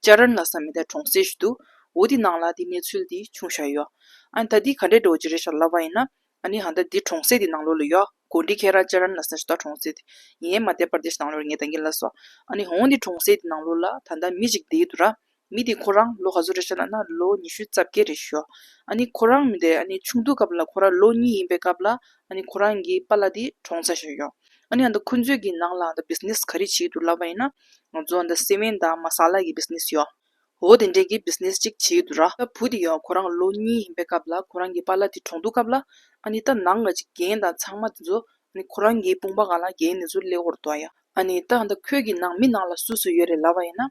ལྕགས་ར་ན་ས་མེ་ད་གྲོང་གསེབ་ཞིག་ཏུ། འོ་དེ་ནང་ལ་དེ་གནས་ཚུལ་དེ་ཆུང་བཞག་ཡོད། ཨ་ནི་ད་དེ་ག་འདྲའི་འགྲོ་ཅི་རེད་ཞག་ལབ་པ་ཡིན་ན། ཨ་ནི་ཧ་ད་དེ་གྲོང་གསེབ་དེ་ནང་ལོག་ལ་ཡོད། གོ་འདྲིས་ཁྱེད་རང་ལྕགས་ར་ན་ས་ཞིག་ད་གྲོང་གསེབ་དེ། ངས་མ་བལྟས་པར་དེ་ཞིག་ནང་ལོག་རེད་ངས་ད་ངེས་ལ་སོ། ཨ་ནི་འོང་དེ་གྲོང་གསེབ་དེ་ནང་ལོག་ལ་ད་ལྟ་མི་ཞིག་བསྡད་ཡོད་འདུག་ར། མི་དེ་ཁོ་རང་ལོ་ག་ཚོད་རེད་ཞག་ལབ་ན་ལོ་ཉི་ཤུ་རྩ་བརྒྱད་རེད་ཞུ། ཨ་ནི་ཁོ་རང་མི་དེ་ཨ་ནི་ཆུང་དུས་སྐབས་ལ་ཁོ་རང་ལོ་གཉིས་ཡིན་པའི་སྐབས་ལ་ཨ་ནི་ཁོ་རང་གི་པ་ལ་དེ་གྲོངས་ཚར་ཞག་ཡོད། ཨ་ནེ་འདི་ཁོ་ཚོའི་གི་ནང་ལ་འདི business ག་རེ་བྱེད་དུ་ལབ་པ་ཡིན་ན། ང་ཚོ་འདི་སེ་མན་དང་མ་སཱ་ལ་གི business ཡོད། འོ་དེ་འདྲའི་གི business གཅིག་བྱེད་དུ་ར། ད་བུ་དེ་ཡང་ཁོ་རང་ལོ་གཉིས་ཡིན་པའི་སྐབས་ལ་ཁོ་རང་གི་པཱ་ལ་དེ་གྲོངས་འདུག་སྐབས་ལ། ཨ་ནེ་ད་ནང་ང་ཅིག་རྒན་དང་ཚང་མ་དེ་ཚོ། ཨ་ནེ་ཁོ་རང་གི་དཔུང་པ་གང་ལ་རྒན་ནེ་ཚོ་སླེ་བོར་འདུག་ཡ། ཨ་ནེ་ད་འདི་ཁོའི་གི་ནང་མི་ནང་ལ་སུ་སུ་ཡོད་རེད་ལབ་པ་ཡིན་ན།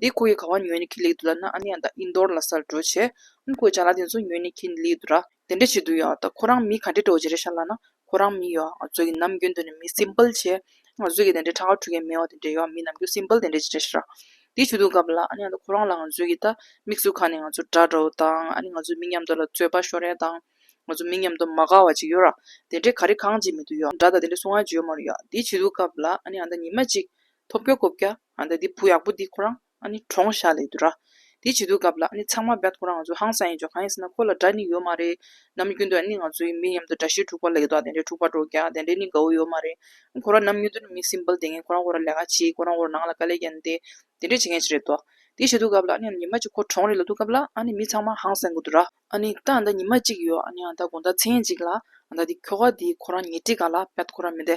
འདི་ཁོ་ཡི་ག་བ་ཉོན་ནི་ཁི་ལིག་དུ་ལ་ན་ཨ་ནི་ཡང་ད་ཨིན་དོར་ལ་སར་འགྲོ་བྱས། ཨན་ཁོའི་བྱ་ལ་དེ་ཚོ་ཉོན་ནི་ཁི་ལིག་དུ་ར། དེ་འདྲ་བྱེད་དུ་ཡོད་ད་ཁོ་རང་མི་ག་འདྲེ་འགྲོ་བྱེད་རེད་ཤ་ལ་ན་ཁོ་རང་མི་ཡོད་ང་ཚོ་གི་ནམ་རྒྱུན་དུ་ནི་མི་སིམ་པལ་བྱས། ང་ཚོ་གི་དེ་འདྲའི་ཁྲ་ཁ་འཁྲུ་མཁན་མེད་བ་དེ་འདྲ་ཡོད་མི་ནམ་རྒྱུན་སིམ་པལ་དེ་འདྲ་བྱེད་རེད་ཤ་ར། དེ་བྱེད་དུ་གབ་ལ་ཨ་ནི་ཡང་ད་ཁོ་རང་ལ་ང་ཚོ་གི་ད་མིག་ཟུར་ཁ་ནས་ང་ཚོ་དགྲ་འདྲ་བོ་དང་ཨ་ནི་ང་ཚོ་མི་མཉམ་དུ་ལ་རྩོད་པ་ཤོར་རན་དང། ང་ཚོ་མི་མཉམ་དུ་མ་དགའ་བ་ཅིག་ཡོད་ར། དེ་འདྲའི་ག་རེ་གང་བྱེད་མི་དུ་ཡོད་འདྲ་ད་དེ་འདྲའི་སུ་ང་བརྗོད་མ་རུ་ཡོད་དེ་བྱེད་དུ་གབ་ལ་ཨ་ནི་ཡང་ད་ཉི་མ་གཅིག། ཐོབ་རྒྱ་གོ་བརྒྱ། ཨཱ་འདི་བུ་ཡག་པོ་འདི་ཁོ་རང་ཨཱ་ནི་གྲོངས་ཤག་ལས་དུ་ར། དེ་བྱེད་དུས་སྐབས་ལ་ཨཱ་ནི་ཚང་མ་བརྒྱ་ཁོ་རང་ང་ཚོ་ཧང་སང་ཡིན་ཆོག་གང་ཡིན་ཟེར་ན་ཁོ་ལ་དགྲ་ནི་ཡོད་མ་རེད། ནམ་རྒྱུན་དུ་ཨཱ་ནི་ང་ཚོའི་མི་མཉམ་དུ་དགྲ་ཞེ་དྲུག་པ་ལེགས་དོག་དེ་འདྲས་དྲུག་པ་འགྲོ་བརྒྱ་དེ་འདྲས་ནི་དགའ་བོ་ཡོད་མ་རེད། ཁོ་རང་ནམ་རྒྱུན་དུ་ནི་མི་སིམ་པལ་དེ་ངས་ཁོ་རང་བོ་ར་ལས་ཀ་བྱེད་ཁོ་རང་བོ་ར་ནང་ལ་དཀའ་ལས་རྒྱག་ནི་དེ་དེ་འདྲས་བྱེད་མཁན་ཞིག་རེད་དོ། དེ་བྱེད་དུས་སྐབས་ལ་ཨཱ་ནི་ཨཱ་ནི་ཉི་མ་གཅིག་ཁོ་གྲོངས་རེ་ལ་དུས་སྐབས་ལ་ཨཱ་ནི་མི་ཚང་མ་ཧང་སང་གི་དུ་ར། ཨཱ་ནི་ད་ཨཱ་འདའ་ཉི་མ་གཅིག་ཡོད་ཨཱ་ནི་ཨཱ་འདའ་དགོང་ཟླ་ཚེས་ཉེར་གཅིག་ལ་ཨཱ་འདའ་འདི་ཁྱོ་ག་འདི་ཁོ་རང་ཉེ་འཁྲིས་ག་ལ་བརྒྱ་ཐོ་ཁོ་རང་མི་འདའི་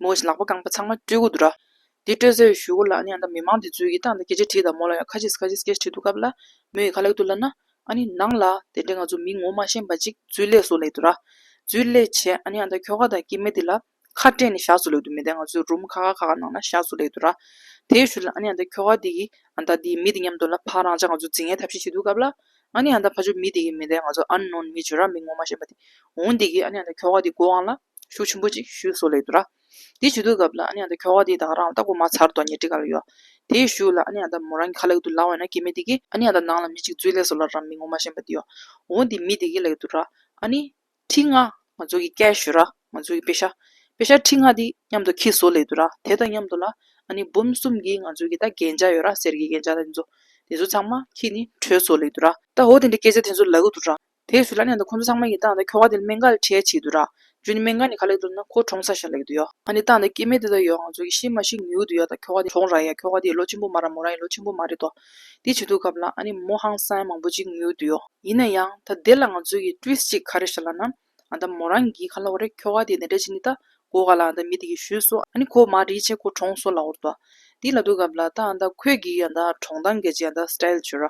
མོ་བཞིན་ལག་པ་རྐང་པ་ཚང་མ་སྤྲུལ་སྐུ་དུ་ར། དེ་སྤྲོད་ཚེ་ཞུ་སྒོ་ལ་ཡང་དག་མི་མང་དེ་ཚོས་ཀྱིས་ཏང་དང་རྒྱལ་གཅེས་བྲིས་དང་མོ་ལ་ཡང་ཁ་ཆེས་ཁ་ཆེས་སྐད་བྲིས་འདུག་སྐབས་ལ་མོ་ཡིས་ཁ་ལེགས་དུ་བསླབས་ན། ཨ་ནི་ནང་ལ་དེ་འདྲའི་ང་ཚོ་མི་ངོ་མ་ཤེས་པ་ཅིག་རྫུས་ལས་སུ་ལེགས་དུ་ར། རྫུས་ལས་བྱས་ཨ་ནི་ཨ་མདའ་ཁྱོ་ག་དང་སྐྱེས་མེད་དེ་ལ་ཁ་སྤྲད་ནས་བཞག་སུ་ལེགས་དུ་མི་དེ་ང་ཚོའི་རུམ་ཁ་ཁ་ཁ་ཁ་ནང་ན་བཞག་སུ་ལེགས་དུ་ར། དེ་ཞུ་ལ་ཨ་ནི་ཨ་མདའ་ཁྱོ་ག་དེ་གིས་ཨ་མདའ་དེའི་མི་དེ་མཉམ་དུ་ལ་ཕ་རང་ཅག་ང་ཚོ་འཛིན་མཁན་ཐབས་ཤེས་བྱེད་འདུག་སྐབས་ལ། ཨ་ནི་ཨ་མདའ་ཕ་ཆོས་མི་དེ་གིས་མི་དེ་ང་ཚོ་ཨ་ནོན་མི་བྱོས་ར་མི་ངོ་མ་ཤེས་པ་དེ་འོང་དེ་གིས་ཨ་ནི་ཨ་མདའ་ཁྱོ་ག་དེའི་སྒོ་དབང་ལ། ཤུགས་ཆེན་པོ་ཅིག་ཞུས་སོ་ལེགས་འདུག་ར། དེ་ཞུས་འདུག་སྐབས་ལ་ཨ་ནེ་ཨ་ད་ཁྱོ་ག་དེ་དང་རང་ལྟ་གོ་མ་ཚར་དོ་ཉེ་ཏྲི་ག་ལ་ཡོད། དེ་ཞུས་ལ་ཨ་ནེ་ཨ་ད་མོ་རང་གི་ཁ་ལེགས་འདུག་ལ་འོ་ན་ཀྱེ་མི་དེ་གི། ཨ་ནེ་ཨ་ད་ནང་ལ་མི་ཅིག་འཛུལ་ལེགས་སོ་ལ་རང་མི་ངོ་མ་ཞེན་པ་དེ་ཡོད། འོ་དེ་མི་དེ་གི་ལེགས་འདུག་ར། ཨ་ནེ། ཁྲི་ལྔ། ང་ཚོ་གི་སྐད་ཞུས་ར། ང་ཚོ་གི་པེ་ཤ། པེ་ཤ་ཁྲི་ལྔ་དེ་མཉམ་དུ་ཁྱི་ཟོ་ལེགས་འདུག་ར་དེ་དང་མཉམ་དུ་ལ། ཨ་ནེ་འབུམ་གསུམ་གི་ང་ཚོ་གི་ད་རྒྱན་ཆ་ཡོད་ར་གསེར་གི་རྒྱན་ཆ་དེ་ཚོ། དེ་ཚོ་ཚང་མ་ཁྱི་ནི་བྲོས་ཟོ་ལེགས་འདུག་ར། ད་འོ་དེ་འདྲའི་སྐད་ཆ་དེ་ཚོ་ལ་གི་འདུག་ར། དེས་སུ་ལ་ནས་ད་ཁོང་ཚོ་ཚང་མ་ཡི་ཏང་དང་ཁྱོ་ག་དེ་ལ་མེ་འགའ་ལས་ཁྲལ་བྱེད་དུ་རག་རྒྱུ་ནི་མེ་འགའ་ནི་ག་ལེགས་མདོར་ན་ཁོ་གྲོངས་ས་ཞིག་ལ་ཡོད་དུ་ཡོད་ཨ་ནི་ཏང་དང་སྐྱེད་མེད་དེ་ལ་ཡོད་ང་ཚོ་གི་ཤི་མ་ཤི་ཉུལ་དུ་ཡོད་ད་ཁྱོ་ག་དེ་གྲོངས་རག་ཡ་ཁྱོ་ག་དེ་ལོ་ཆེན་པོ་མ་རག་མོ་རང་ཡི་ལོ་ཆེན་པོ་མ་རེད་དོ། དེ་བྱེད་དུ་གབ་ལ་ཨ་ནི་མོ་ཧང་སང་མང་པོ་ཅིག་ཉུལ་དུ་ཡོད། ཡིན་ན་ཡང་ད་དེ་ལ་ང་ཚོ་གི་ཏུས་གཅིག་ག་རེ་བྱ་ལ་ན། ཨ་ད་མོ་རང་གིས་ག་ལ་བ་རེད་ཁྱོ་ག་དེ་དེ་འདྲ་བྱེད་ནི་ད་གོ་ག་ལ་ཨ་ད་མི་དེ་གི་ཞུས་སོ་ཨ་ནི་ཁོ་མ་རིག་བྱས་ཁོ་གྲོངས་སོ་ལ་འོར་དོ། དེ་ལ་དུ་གབ་ལ་ད་ཨ་ད་ཁོས་གིས་ཨ་ད་གྲོངས་ད་འགལ་ཅི་ཨ་ད་སི་ཏཱ་ཡལ་བྱོས་ར་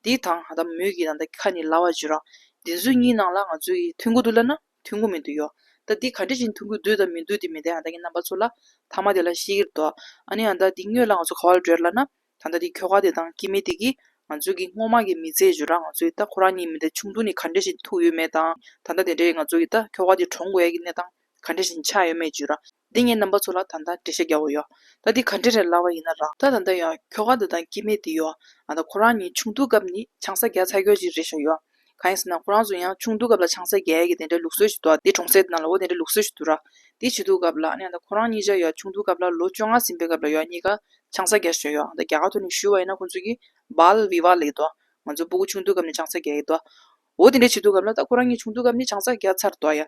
འདི་དང་ད་མོས་ཀྱི་དང་ད་ཁ་ནི་ལ་བ་བརྗོད་རང་བདེན་ཚུལ་གཉིས་སྣང་ལ་ང་ཚོས་ཀྱི་མཐུན་གོ་དུ་ལ་ན་མཐུན་གོ་མིན་དུ་ཡོད་ད་འདི་ག་འདྲི་བཞིན་མཐུན་གོ་དུ་ད་མིན་དུ་དེ་མི་ད་ཡང་ད་ཀྱི་རྣམ་པ་ཚུར་ལ་ཐ་མ་དེ་ལ་ཤེས་ཀྱིར་འདོད་ཨ་ནི་ཡང་ད་འདི་སྨྱོས་ལ་ང་ཚོ་ག་བ་ལ་བྲོད་ལ་ན་ད་ད་འདི་ཁྱོ་ག་དེ་དང་དཀྱིལ་མི་དེ་ཀྱིས་ང་ཚོས་ཀྱི་སྔོ་མ་ཀྱི་མི་ཚེ་བརྗོད་རང་ང་ཚོས་ད་ཁོ་རང་གཉིས་མི་ད་ཆུང་དུ་ནི་ག་འདྲི་བཞིན་ཐུག་ཡོད་མེད་དང་ད་ད་དེ་འདྲ་ཡི་ང་ཚོས་ཀྱི་ད་ཁྱོ་ག་དེ་གྲོངས་དགོས་ཡ་ཀྱི་གནས་སྟངས་ག་འདྲི་བཞིན་ཆགས་ཡོད་མེད་བརྗོད་རང། འདི་ངའི་རྣམ་པ་ཚོ་ལ་ད་ལྟ་འགྲེལ་བཤད་རྒྱག་དགོས་ཡོད། ད་འདི་ག་འདྲི་རན་ལབ་པ་ཡིན་ན་རག་ད་ད་ལྟ་ཡང་ཁྱོ་ག་འདི་དང་སྐྱིད་མེད་འདི་ཡོད། ད་ད་ཁོ་རང་གཉིས་ཆུང་དུས་སྐབས་ནི་ཆང་ས་རྒྱག་ཚར་ཁྱོད་ཅིག་རེད་བཞག་ཡོད། གང་ཡིན་ཟེར་ན་ཁོ་རང་ཚོ་ཡང་ཆུང་དུས་སྐབས་ལ་ཆང་ས་རྒྱག་ཡས་ཀྱི་དེ་འདྲའི་ལུགས་སྲོལ་ཞིག་འདུག་འདི་གྲོང་སྲས་དེ་ན་ལོ་དེ་འདྲའི་ལུགས་སྲོལ་ཞིག་འདུག་ར། འདི་བྱེད་དུས་སྐབས་ལ་ད་ཁོ་རང་གཉིས་བཞག་ཡོད་ཆུང་དུས་སྐབས་ལ་ལོ་བཅོ་ལྔ་ཟིན་པའི་སྐབས་ལ་ཡོད་གཉིས་ཀ་ཆང་ས་རྒྱག་བཞོན་ཡོད་ད་རྒྱ་གར་དུ་ནི་བཞུར་བ་ཡིན་ན་ཁོ་ཚོ་གིས་བལ་བི་བ་ལ་ཡི་འདུག་ང་ཚོའི་སྤུ་གུ་ཆུང་དུས་སྐབས་ནི་ཆང་ས་རྒྱག་ཡས་འདུག་འོ་དེ་འདྲའི་བྱེད་དུས་སྐབས་ལ་ད་ཁོ་རང་གཉིས་ཆུང་དུས་སྐབས་ནི་ཆང་ས་རྒྱག་ཚར་འདུག་ཡ།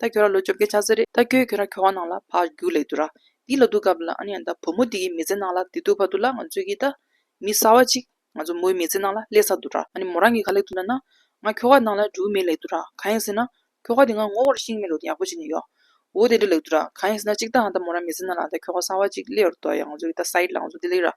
ད་ཁྱོད་རང་ལོ་བཅོ་བརྒྱད་ཆགས་ཚར་རེད་ད་ཁྱོད་ཁྱོད་རང་ཁྱོ་བ་ནང་ལ་ཕར་རྒྱུགས་ལེགས་འདུག་ར་འདི་ལ་སྡུག་ག་བུ་ལ་ཨ་ནེ་ཡང་ད་བུ་མོ་འདི་ཡི་མི་ཚེ་ནང་ལ་དེ་སྡུག་ཕ་དུ་ལ་ང་ཚོས་ཀྱིས་ད་མི་གསར་བ་ཅིག་ང་ཚོ་མོའི་མི་ཚེ་ནང་ལ་སླེབས་ཚར་འདུག་ར་ཨ་ནེ་མོ་རང་གིས་ག་ལེགས་འདུག་ན་ན་ང་ཁྱོ་བ་ནང་ལ་རྒྱུགས་མེད་ལེགས་འདུག་ར་གང་ཡིན་ཟེར་ན་ཁྱོ་ག་དེ་ང་ངོ་བོར་ཤིང་མེད་ལུགས་དེ་ཡག་པོ་བྱས་ནས་ཡོད་འོ་དེ་འདྲ་ལེགས་འདུག་ར་གང་ཡིན་ཟེར་ན་ཅིག་ད་ཧང་ད་མོ་རང་མི་ཚེ་ནང་ལ་ད་ཁྱོ་ག་གསར་བ་ཅིག་སླེབས་འདུག་ཡང་ང་ཚོས་ཀྱིས་ད་ས་ཡིག་ལ་ང་ཚོ་འདི་ལེགས་ར་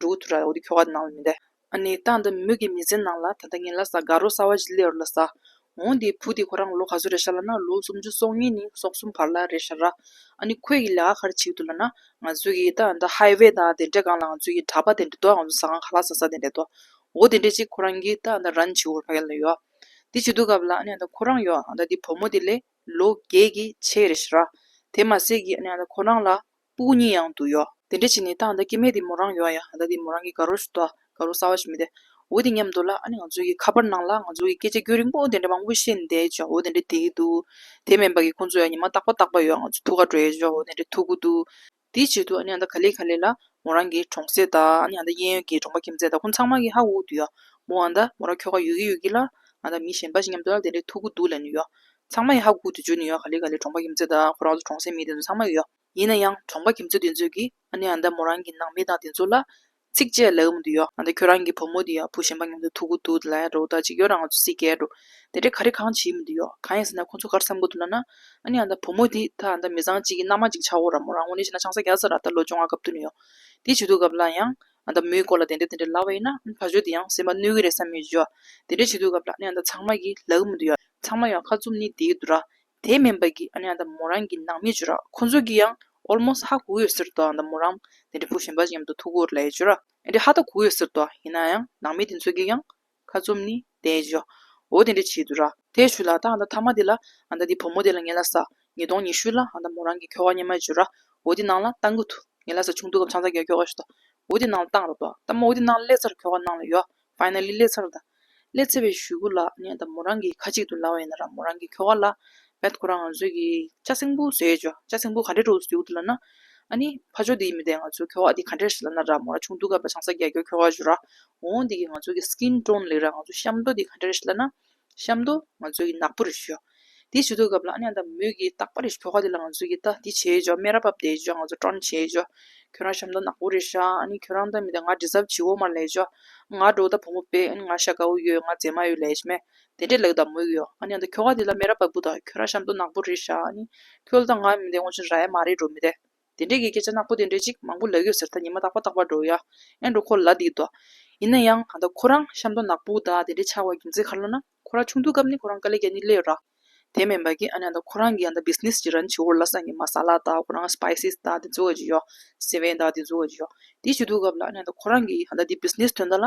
འགྲོ་གི་ཐུགས་ར་འོ་དེ་ཁྱོ་ག་དེ་ནང་ལ་མི་འདེ། ཨ་ནི་སྟངས་དེ་མོད་ཀྱི་མི་ཚེ་ནང་ལ་ད་ལྟ་ངན་ལ་ཟ་དགའ་རོ་ཟ་བ་ཞིག་སླེ་རོ་ལ་ཟ། འོང་དེའི་བུ་དེ་ཁོ་རང་ལོ་ག་ཚོད་རེད་ཤ་ལ་ན་ལོ་སུམ་ཅུ་སོ་གཉིས་ནས་སོ་གསུམ་བར་ལ་རེད་ཤ་ར། ཨ་ནི་ཁོད་ཀྱི་ལས་ཀ་གར་བྱེད་ཀྱི་འདུག་ལ་ན་ང་ཚོད་ཀྱི་ད་ད་ཧའི་བའི་ད་དེ་འདྲས་གང་ལ་ང་ཚོད་ཀྱི་གྲ་པ་དེ་འདྲས་འདུག་ང་ཚོ་ཟ་ཁང་ག་ལ་ཟ་ཟ་དེ་འདྲས་འདུག་འོ་དེ་འདྲས་ཅིག་ཁོ་རང་གི་ད་ད་ར་ནི་བྱེད་འོར་ཕ་ག་ལ་ཡོད། དེ་བྱེད་འདུག་སྐབས་ལ་ཨ་ནི་ད་ཁོ་རང་ཡོད་ད་དེ་བུ་མོ་དེ་ལས་ལོ་བརྒྱད་ཀྱི་ཆེ་རེད་ཤ་ར། དེ་མ་ཟད་ཀྱི་ཨ་ནི་ད་ཁོ་རང་ལ། སྤུ་གུ་གཉིས་ཡང་དུ་གཡོགས། དེ་འདྲ་བྱས་ནས་ཏང་ད་ཀྱེ་མེད་དེ་མོ་རང་ཡོད་ཡ་ད་དེ་མོ་རང་གི་དགའ་རོགས་སུ་དོ་དགའ་རོགས་གསར་བ་ཞིག་མི་དེ་འོ་དེ་ཉམས་འདུག་ལ་ཨ་ནི་ང་ཚོས་ཀྱི་ཁ་པར་ནང་ལ་ང་ཚོ་ཀྱི་སྐད་ཆ་རྒྱུན་རིང་པོ་དེ་འདྲ་མང་པོ་བཤད་ནས་བསྡད་ཆོག་འོ་དེ་འདྲ་བསྡད་ཀྱི་འདུག་དེ་མིན་པ་ཀྱི་ཁོང་ཚོས་ཨ་ཉི་མ་རྟག་པ་རྟག་པ་ཡོད་ང་ཚོ་ཐུགས་ཁ་བྲོས་ཆོག་འོ་དེ་འདྲ་ཐུག་གི་འདུག་དེའི་ཆེད་དུ་ཨ་ནི་ཨ་ད་ག་ལེ་ག་ལེ་ལ་མོ་རང་གི་གྲོང་གསེབ་དང་ཨ་ནི་ཨ་ད་གཡས་གཡོན་གྱི་གྲོང་པ་ཁྱིམ་མཚེས་དང་ཁོང་ཚང་མ་གྱི་ཧ་འུ་དུ་ཡོད་མོ་ཨ་ད་མོ་རང་ཁྱོ་ག་ཡོད་ཀྱི་ཡོད་ཀྱི་ལ་ཨ་ད་མི་གཞན་པ་ཞིག་མཉམ་དུ་ལ་དེ་འདྲ་ཐུག་གི་འདུག་ལ་ནི་ཡོད་ཚང་མ་ཡང་ཧ་གོ་ཏུ་འཇུག་ནས་ཡོད་ག་ལེ་ག་ལེ་གྲོང་པ་ཁྱིམ་མཚེས་དང་ཁོ་རང་ཚོ་གྲོང་གསེབ་མི་དེ་ཚོ་ཚང་མ་ཡོད། ཡིན་ན་ཡང་གྲོང་པ་ཁྱིམ་མཚེས་དེ་ཚོས་ཀྱིས་ཨ་ནེ་ཨ་མདའ་མོ་རང་གི་ནང་མི་དང་དེ་ཚོ་ལ། ཚིག་བཅད་ལེགས་མོ་འདི་ཡོད་ཨ་མདའ་ཁྱོད་རང་གི་བུ་མོ་དེ་ཡག་པོ་ཞེན་པ་ཉུང་དུ་ཐུག་གི་འདུག་དེ་ལ་ཡང་རེ་བ་ད་ཅིག་ཡོད་ར་ང་ཚོ་སྲིད་སྐལ་འགྲོ། དེ་འདྲའི་ག་རེ་གང་བྱེད་ཡིན་མོ་འདི་ཡོད་གང་ཡིན་ཟེར་ན་ཁོ་ཚོ་གར་བསམ་གོ་ཐུབ་ན་ན། ཨ་ནེ་ཨ་མདའ་བུ་མོ་དེ་ད་ཨ་མདའ་མི་བཟང་ཅིག་གི་མནའ་མ་ཅིག་ཆག་གོ་ར་མོ་རང་ངོ་ནས་བཤད་ན་ཆང་ས་བརྒྱ་ཚར་ར་ད་ལོ་བཅོ་ལྔ་སྐབས་ཐུག་ནས་ཡོད། དེ་བྱེད་ཐུག་སྐབས་ལ་ཡང། ཨ་མདའ་མོའི་སྐོར་ལ་དེ་འདྲ་དེ་འདྲ་ལབ་པ་ཡིན་ན་ད་གཟོད་དེ་ཡང་སེམས་པ་གནོད་ཀྱི་རེད་བསམ་ཡོད་ཀྱི། དེ་འདྲ་བྱེད་དུས་སྐབས་ལ་ཨ་མདའ་ཚང་མ་གིས་ལག་གི་མི་འདུག་ཡ། ཚང་མ་ཡང་ཁ་བཙུམ་ནི་བསྡད་ཀྱི་འདུག་ར། དེ་མིན་པ་གིས་ཨ་མདའ་མོ་རང་གི་ནང་མི་བྱོས་ར། ཁོ་ཚོ་གིས་ཡང almost ཧ་གོ་གི་ཡོད་ཟེར་དུ་ཨ་མདའ་མོ་རང་དེ་འདྲ་བུ་གཞན་པ་ཅིག་མཉམ་དུ་ཐུག་གོ་ར་ལས་བྱོས་ར། དེ་འདྲ་ཧ་ད་གོ་གི་ཡོད་ཟེར་དུ་ཡིན་ན་ཡང་ནང་མི་དེ་ཚོ་གིས་ཡང། ཁ་བཙུམ་ནི་བསྟན། བཞོ་འོ་དེ་འདྲའི་བྱེད་དུ་ར། དེས་ཆུ་ལ། ད་ཨ་མདའ་ཐ་མ་དེ་ལ། ཨ་མདའ་དེ་བུ་མོ་དེ་ལ་ངེད་ལ་ཟ། ཉིས་སྟོང་ཉི་ཤུ་ལ། ཨ་མདའ་མོ་རང་གི་ཁྱོ་ག་སྙེ་མ་འཇུ་ར། འོ་དེ་ནང་ལ། ཏང་གུ་ཐུ། ངེད་ལ་ཟ་ཆུང་དུ་སྐབས་ཆང་ཚ་གེར་ཁྱོ་ག་ཞུ་ད། འོ་དེ་ནང་ལ་ཏང་ར་ཏོ། ཏ་མོ་འོ་དེ་ནང་ལ་ལེ་ཚར་ཁྱོ་ག་ནང་ལ་ཡོ། Finally ལེ་ཚར་ད། ལེ་ཚེ་བའི་ཞུ་གུ་ལ། ངེད་ད་མོ་རང་གི་ཁ་གཅིག་ཏུ་ལ་བ་ཡིན་ན་ར་མོ་རང་གི་ཁྱོ་ག་ལ། བས་ཁོ་རང་ང་ཚོས་ཀྱི་ལྕགས་སྲིན་པོ་ཟེར་ཅོ་ལྕགས་སྲིན་པོ་ག་འདྲའི་གྲོགས་སུ་གྱུར་འདུག་ལ་ན། ཨ་ནི། ཕ་ཆོས་འདི་མི་བདེ་ང་ཚོས་ཁྱོ་ག་འདི་ག་འདྲས་ཞིག་ལ་ན་ར་མོ་ར་ཆུང་དུས་སྐབས་ལ་ཆང་ས་རྒྱག་རྒྱུར་ཁྱོ་ག་བྱོས་ར། འོང་འདི་གི་ང་ཚོས་ཀྱི Skin Tone ལེགས་ར་ང་ཚོས་ཤམ་ཏོ་འདི་ག་འདྲས་ཞིག་ལ་ན། ཤམ་ཏོ། ང་ཚོས་ཀྱི་ནག་པོ་རེ་བྱོས། དེ་བྱོས་དུས་སྐབས་ལ་ཨ་ནི་ཨ་ད་མོས་ཀྱི་རྟག་པ་རེ་ཁྱོ་ག་འདི་ལ་ང་ཚོས་ཀྱི་ད་འདི་བྱས་ཅོ་སྨན་ར་བབས་བསྡད་ཅོ་ང་ཚོ་སྤྲོ་ན་བྱས་ཅོ། ཁྱོད་རང་ཤམ་ཏོ་ནག་པོ་རེ་བྱ་ཨ་ནི་ཁྱོད་རང་ད་མི་ད་ང་དྲི་ཟབ་བྱིའོ་མར་ལས་ཅོ། ང་འགྲོ་ད་བུ་མོ་དཔེ་ཨ་ནི་ང་ཤ་དགའ་བོ་ཡོད་ང་མཛེས་མ་ཡོད་ལས་ཅི་མེད། དེ་འདྲའི་ལེགས་དང་མོད་ཀྱི། ཨ་ནི་ཨ་ཁྱོ་ག་དེ་ལ་མེ་ར་བབས་པོ་དང་ཁྱོད་ར་གཤམ་དུ་ནག་པོ་རེད་ཤག་ཨ་ནི། ཁྱོད་ལ་ད་ང་མི་འདེ་ངོ་ཆུང་ར་ཡ་མ་རེད་འགྲོ་མི་དེ། དེ་འདྲའི་གི་སྐད་ཆ་ནག་པོ་དེ་འདྲའི་ཅིག་མང་པོ་ལེགས་ཡོད་ཟེར་ད་ཉི་མ་རྟག་པ་རྟག་པ་འགྲོ་ཡ། ཨེ་འགྲོ་ཁོ་ལ་དེ་འདོ། ཡིན་ན་ཡང་ད་ཁོ་རང་གཤམ་དུ་ནག་པོ་དང་དེ་འདྲའི་ཆགས་བ་རྒྱུ་མཚན་ག་ལ་ན། ཁོ་ར་ཆུང་དུས་སྐབས་ནི་ཁོ་རང་དཀའ་ལས་ཀྱ་ནི་ལས་ཡོད་ར། དེ་མིན་པ་གི་ཨ་ནི་ད་ཁོ་རང་གི་ཡ་ད Business ཅིག་ར་ནི་བྱེད་འོར་ལ་སང་གི་མ་སཱ་ལ་དང་ཁོ་རང Spices དང་དེ་ཚོ་ག་ཅིག་ཡོད། སེ་བན་དང་དེ་ཚོ་ག་ཅིག་ཡོད། དེ་བྱེད་དུས་སྐབས་ལ་ཨ་ནི་ད་ཁོ་རང་གི་ཡ་ད་དེ Business དོན་དག་ལ་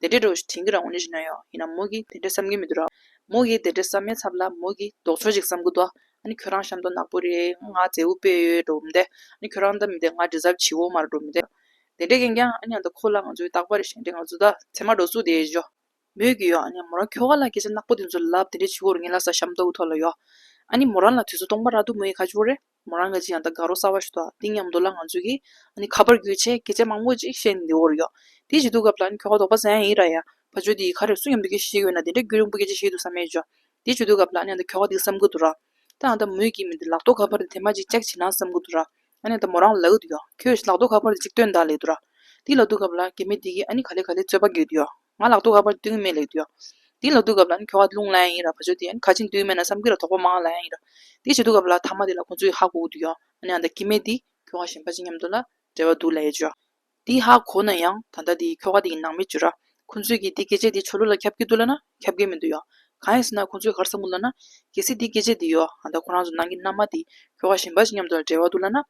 དེ་འདྲའི་འགྲོ་བ་ཞིག་དྲན་གྱི་རང་ངོ་ནི་རིག་ན་ཡང་ཡིན་ནམ་མོ་གིས་དེ་འདྲ་བསམ་གྱི་མི་འདུག་ར། མོ་གིས་དེ་འདྲ་བསམ་མའི་ཚབ་ལ་མོ་གིས་ལྡོག་ཕྱོགས་ཤིག་བསམ་གྱི་འདུག་ཨ་ནི་ཁྱོད་རང་ཤམ་ཏོག་ནག་པོ་རེད་ང་མཛེ་བོ་དཔེ་ཡོད་འགྲོ་མི་འདོད་ཨ་ནི་ཁྱོད་རང་ལྟ་མི་འདོད་ང་དྲི་ཟབ་བྱིའུ་མར་འགྲོ་མི་འདོད། དེ་འདྲས་ཀྱིན་ཀྱང་ཨ་ནི་ཨ་མདའ་ཁོ་ལ་ང་ཚོའི་རྟག་པར་བཞེངས་ཏེ་ང་ཚོ་ད་ཚེ་མ་འགྲོ་ཚུལ་དེ་ཤོ། མོས་གུས་ཡོད་ཨ་ནི་མོ་རང་ཁྱོ་ག་ལ་སྐད་ཆ་ནག་པོ་དེ་ཚོ་ལབ་དེ་འདྲས་བྱིའུ་འོར་ངེད་ལ་ས་ཤམ་ཏོག་གི་ཐོག་ལ་ཡོད། ཨ་ནི་མོ་རང་ལ་དུས་ཚོད་སྟོང་པ་རག་འདུག་མོ་ཡི་ཁ་ཆུ་བོ་རེད། མོ་རང་གི་ཅི་ཡང་ད་གའ་རོགས་གསར་བ་ཞིག་ཐོག་ཏིང་ཡམ་འདུག་ལ་ང་ཚོས་ཀྱིས་ནི་ཁ་པར་བརྒྱུད་ཆེད་སྐད་ཆ་མང་པོ་ཅིག་བཤད་ནས་འདི་འོར་ཡོད། དེ་བྱེད་དུས་སྐབས་ལ་ནི་ཁྱོ་ག་དོག་པ་ཟན་ཡིན་ར་ཡ། ཕ་ཆོས་འདི་ཡི་ཁ་རེ་སུ་ཡང་འབུད་ཀྱི་ཞིག་ཡོད་ན་དེ་འདྲ་རྒྱུད་རིང་པོ་སྐད་ཆ་བཤད་དུ་ས་མེད་ཅོ། དེ་བྱེད་དུས་སྐབས་ལ་ནི་ད་ཁྱོ་ག་འདི་བསམ་གི་འདུག་ར། ད་ཨ་ད་མོས་ཀྱིས་མི་འདི་ལག་ཐོག་ཁ་པར་འདི་དེ་མ་ཅིག་ཅག་བྱེད་ན་བསམ་གི་འདུག་ར། ཨ་ནི་ད་མོ་རང་ལ་ལག་གི་འདུག་ཡོད། ཁྱོས་ལག་ཐོག་ཁ་པར་འདི་ཅིག་སྟོན་ད་ལེགས་འདུག་ར། དེ་ལ་དུས་སྐབས་ལ་གད་མི་འདི་གིས་ཨ་ནི་ག་ལེ་ག་ལེ་རྩོད་པ་དགོས་འདུག་ཡོད། ང་ལག་ཏུ་ཨ་ཕར་སྟོད་སྨད་ལེགས་འདུག་ཡ། དེ་ལག་ཏུ་གབ་ལ་ཁྱོ་ག་རླུང་ལ་ཡིན་ར་བ་ཅོ་དེ་ཁ་ཆེ་འདུག་སྨད་ན་བསམ་གི་ར་དོག་པ་མང་ལ་ཡིན་ར། དེ་བྱེད་དུ་གབ་ལ་ཐ་མ་དེ་ལ་ཁོང་ཚོ་ཡི་ཧ་གོ་གི་འདུག་ཡ། ཨ་ནེ་ཨ་མདའ་ཀི་མེད་དེ་ཁྱོ་ག་ཞེན་པ་ཅི་སྙམ་དུ་ལ་བྲེལ་བ་འདུག་ལ་ཡ་ཅོ། དེ་ཧ་གོ་ན་ཡང་ད་ལྟ་དེ་ཁྱོ་ག་དེ་ཡི་ནང་མི་ཅོ་ར། ཁོང་ཚོས་ཀི་དེ་སྐད་ཆ་དེ་ཆོ་ལོ་ལ་ཁྱབ་ཀི་འདུག་ལ་ན་ཁྱབ་ཀི་མི་འདུག་ཡ། གང་ཡིན་ཟེར་ན་ཁོང་ཚོས་གར་ས་མུ་ལ་ན། གལ་སྲིད་དེ་སྐད་ཆ་དེ་ཡོ་ཨ་མདའ་ཁོ་རང་ཚོ་ནང་གི་མནའ་མ་དེ་ཁྱོ་ག་ཞེན་པ་ཅི་སྙམ་དུ་ལ་བྲེལ་བ་འདུག་ལ་ན།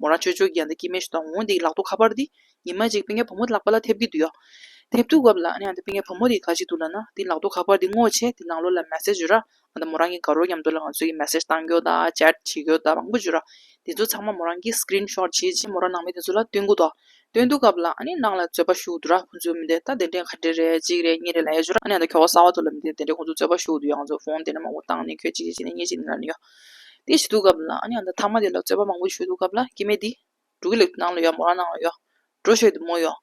མོ་རང་ཆོས་ཆོས་ཀྱི་ཡང་ད་ཀྱི་མེ་ཞུ་དང་འོང་དེ་ཡི་ལག་ཏུ་ཁ་པར་དེ་ཉི་མ་གཅིག་པི་ངའི་བུ་མོ་ལག་པ་ལ་ཐེབས་ཀྱི་འདུག་ཡ། ཐེབས་འདུག་བབ་ལ་ཡང་ད་པི་ངའི་བུ་མོ་དེ་ག་ཅིག་འདུག་ལ་ན་དེ་ལག་ཏུ་ཁ་པར་དེ་བསྔོག་བྱས་དེ་ནང་ལོག་ལ་མེ་སེ་ཇོ་ར། ཡང་ད་མོ་རང་གི་དགའ་རོགས་ཉམས་དོ་ལ་ང་ཚོས་ཀྱི་མེ་སེ་བཏང་གྱོ་ད་ཅེར་བྱེད་གྱོ་ད་མང་པོ་ཇོ་ར། དེ་ཚོ་ཚང་མ་མོ་རང་གི Screen Shot བྱས་རྗེས་མོ་རང་ནང་མི་དེ་ཚོ་ལ་སྟོན་གུ་དོ། སྟོན་འདུག་བབ་ལ་ནང་ལ་རྩོད་པ་ཞུགས་འདུག་ར་ཁོ་ཚོའི་མི་དེ་ད་གདན་འདྲེན་ག་འདྲེ་རེད་གཅིག་རེད་གཉིས་རེད་ལ་ཡ་ཇོ་ར། ཡང་ད་ཁྱོ་ག་ས་བ་ཚོ་ལ་མི་དེ་གདན་འདྲེན་ཁོ་ཚོ་རྩོད་པ་ཞུགས་འདུག་ཡ་ང་ཚོ Phone དེ་འདྲ་མང་པོ་བཏང་ནས་ཁྱོད་གཅིག་བྱས་ནས་གཉིས་བྱས་ནས་ལ་ནི་ཡོ། དེ་ཞིག་འདུག་སྐབས་ལ། ད་ཐང་མ་དེ་ལ་རྩོད་པ་མང་པོ་ཞུས་འདུག་སྐབས་ལ། སྐྱེ་མེད་འདི། འབྲུག་གི་ལེགས་ཐོག་ནང་ལ་ཡོད་མོ་རང་ནང་ལ་ཡོད། འགྲོ་ཤོད་འདི་མོ་ཡོད།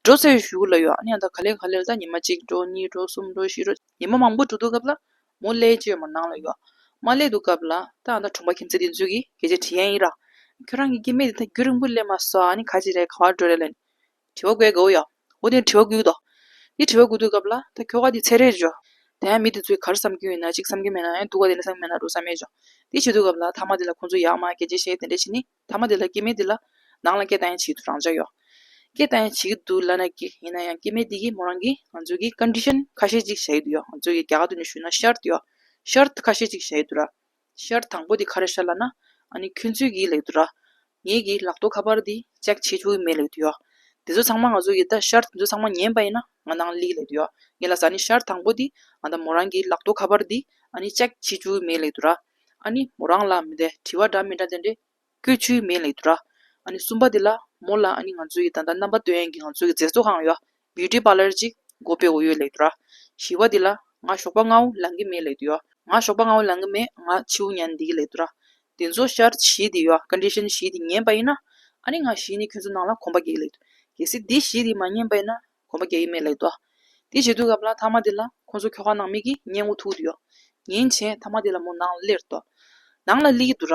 འགྲོ་རྩོད་བཞུགས་ལ་ཡོད། ད་ག་ལེར་ག་ལེར་ད་ཉི་མ་གཅིག་འགྲོ་གཉིས་འགྲོ་གསུམ་འགྲོ་བཞི་འགྲོ། ཉི་མ་མང་པོ་འགྲོ་འདུག་སྐབས་ལ། མོ་གླས་ཀྱི་ཡོད་མོ་ནང་ལ་ཡོད། མ་གླས་འདུག་སྐབས་ལ། ད་ད་གྲོང་པ་ཁྱིམ་མཚེས་དེ་ཚོས་ཀྱིས་གལ་ཆེ་དྲི་ཡན་ཡིན་ར། ཁྱོད་རང་གི་སྐྱེ་མེད་འདི་ད་རྒྱུད་རིང་པོ་གླས་མ་སོང། ག་ཅི་རེད་ག་བར་འགྲོ་རེད་ལན། དྲི་བ་དགོས་གོ་ཡང། འོ་དེ་དྲི་བ་དགོས་དོ། དེ་དྲི་བ་དགོས་དུས་སྐབས་ལ། ད་ཁྱོ་ག་དེ་ཚད་རེད་བྱོ། ད་ཡང་མི་དེ་ཚོས་གར་བསམ་གྱིན་ཡོད་ན་ཅིག་བསམ་གྱིན་མེད་ན་ཡང་འདུག་ག་དེ་ནི་བསམ་གྱིན་མེད་ན་འགྲོ་ས་མེད་བྱོ། དེ་བྱེད་དུས་སྐབས་ལ་ཐ་མ་དེ་ལ་ཁོང་ཚོས་ཡག་མ་གལ་ཆེ་ཤེས་དེ་འདྲ་བྱེད་ནི། ཐ་མ་དེ་ལ་སྐྱེ་མེད་དེ་ལ། ནང་ལ་སྐད་བཏང་ཡང་བྱེད་དུ་རང་འཇགས་ཡོ། སྐད་བཏང་ཡང་བྱེད་ཀྱི་འདུག་ལ་ན་ཀི་ཡིན་ན་ཡང་སྐྱེ་མེད་དེ་གིས་མོ་རང་གིས་ང་ཚོས་གིས condition ཁ་ཤས་ཅིག་བྱ་ཡི་འདུག་ཡོ། ང་ཚོས་གིས་རྒྱ་གར་དུ་ནི་ཞུས་ན shart ཡོ། Shart ཁ་ཤས་ཅིག་བྱ་ཡི་འདུག་ར། ཤར་དང་པོ་དེ་ག་རེ་ཤར་ལ་ན། ཨཱནི། ཁྱོད་ཚོའི་གིས་ལེགས་འདུག་ར། ངེད་ཀྱིས་ལག་ཏུ་ཁ་པར་དེ་ལྕགས་ཕྱེ་ཆུ་བོའི་མེ་ལེགས་འདུག་ཡོ། དེ་ཚོ་ཚང་མ་ང་ཚོ་ཡི་ད་ཤར་དེ་ཚོ་ཚང་མ་ཉན་པ་ཡིན་ན་ང་ནང་ལིག་ལེགས་འདུག་ཡོ། ངེད་ལ་ཟ་ནི་ཤར་དང་པོ་དེ་ང་ད་མོ་རང་གིས་ལག་ཏུ་ཁ་པར་དེ་ཨཱནི་ལྕགས་ཕྱེ་ཆུ་བོའི་མེ་ལེགས་འདུག་ར། ཨཱནི། མོ་རང་ལ་མི་དེ་དྲི་བ་འདྲ་མི་འདྲ་དེ་འདྲི། ཀྱི་ཆུའི་མེ་ལས་དུ་ར། གསུམ་པ་དེ་ལ་མོ་ལ་ང་ཚོའི་ད་ལྟ་རྣམ་པ་དོན་ཡན་གྱི་ང་ཚོའི་མཛེས་བཟོ་ཁང་ཡོད། བིའུ་ཏི་པཱ་ལར་གཅིག་སྒོ་པའི་འོ་ཡོད་ལས་དུ་ར། བཞི་བ་དེ་ལ་ང་ཞོགས་པ་ལྔ་བོ་ལང་གི་མེ་ལས་དུ་ཡོད། ང་ཞོགས་པ་ལྔ་བོ་ལང་གི་མེ་ང་ཆིའུ་ཉན་འདི་གི་ལས་དུ་ར། དེ་ཚོ་ཤར་བཞི་དེ་ཡོད condition བཞི་དེ་ཉན་པ་ཡིན་ན། ང་བཞི་ནི་ཁྱོད་ཚོ་ནང་ལ་གོམ་པ་རྒྱག་གི་ལས་དུ། གལ་སྲིད་དེ་བཞི་དེ་མ་ཉན་པ་ཡིན་ན་གོམ་པ་རྒྱག་གི་མེད་ལས་དུ། དེ་བྱེད་དུས་སྐབས་ལ་མཐའ་མ་དེ་ལ་ཁོ་ཚོ་ཁྱོ་ག་ནང་མིག་གིས་ཉན་འོ་ཐུག་དུ་ཡོད། ཉིན་བྱེད་མཐའ་མ་དེ་ལ་མོ་ནང་ལ་སླེར་དུ། ནང་ལ་སླེ་གི་དུ་ར།